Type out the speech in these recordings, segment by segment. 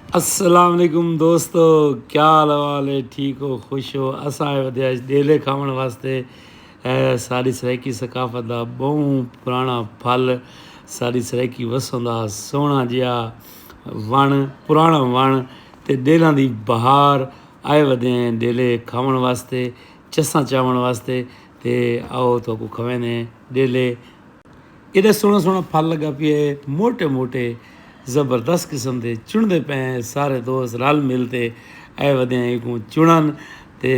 السلام علیکم دوستو کیا حال حوال ہے ٹھیک ہو خوش ہو اساں آئے ودیا ڈیلے کھاون واسطے ساری سرائیکی ثقافت دا بہوں پرانا پھل ساری سرائیکی وسوں دا سونا جیا ون پرانا ون تے ڈیلاں دی بہار آئے ودے ہیں ڈیلے کھاون واسطے چساں چاون واسطے تے آؤ تو کو کھوینے ڈیلے ایڈا سوہنا سوہنا پھل لگا پیا ہے موٹے موٹے زبردست قسم دے چنتے پے ہیں سارے دوست رل مل تے اے ودے ہیں کو چنن تے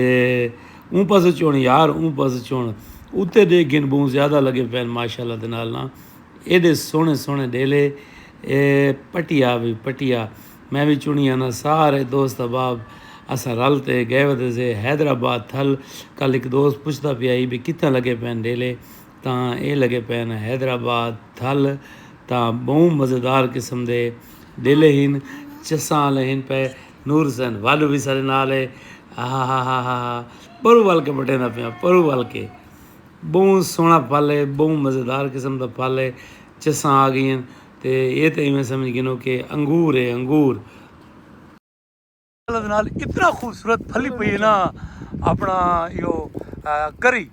اون پاسو چون یار اون پاسو چون اتے دے گن بہت زیادہ لگے پے ماشاءاللہ دے نال نا ایڈے سونے سونے ڈیلے اے پٹیا بھی پٹیا میں بھی چنی آنا سارے دوست احباب اسا رل تے گئے ودے سے حیدرآباد تھل کل ایک دوست پوچھتا پیا ہی بھی کتنا لگے پے ڈیلے تاں اے لگے پئن حیدرآباد تھل تاں بہوں مزیدار قسم دے ڈیلے ہن چساں آلے ہن پئے نور حسین واڈو وی سارے نال اے ہاہاہاہاہا پرو ول کے بٹیندا پیاں پرو ول کے بہوں سوہنا پھل اے بہوں مزیدار قسم دا پھل اے چساں آ گئین تے اے تے ایویں سمجھ گھنو کے انگور اے انگور۔ نال اتنا خوبصورت پھلی پئی ہے نا اپنا یو کری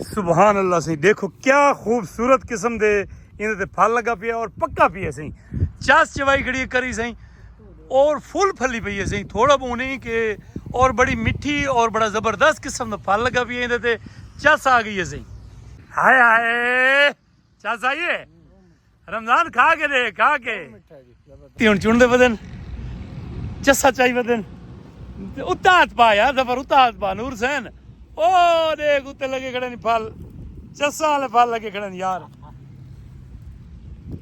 سبحان اللہ سی دیکھو کیا خوبصورت قسم دے انہیں تے پھل لگا پیا اور پکا پیا سی چاس چوائی کھڑی کری سی اور فل پھلی پئی ہے سی تھوڑا بہت نہیں کہ اور بڑی مٹھی اور بڑا زبردست قسم دا پھل لگا پیا انہیں تے چاس آ گئی ہے سی ہائے ہائے چل سائیے رمضان کھا کے دے کھا کے تی ہن چن دے بدن چسا چائی بدن اتات پا یار سفر اتات پا نور سین او دے گتے لگے کھڑے نہیں پھل چسا لے پھل لگے کھڑے نہیں یار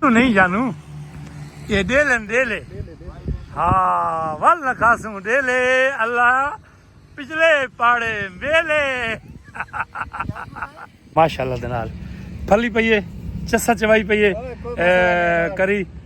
نہیں جانو یہ دے لین دے لے ہاں ول نہ خاسوں دے لے اللہ پچھلے پاڑے میلے ماشاءاللہ دنال پھلی پئیے چسا چوائی پئیے کری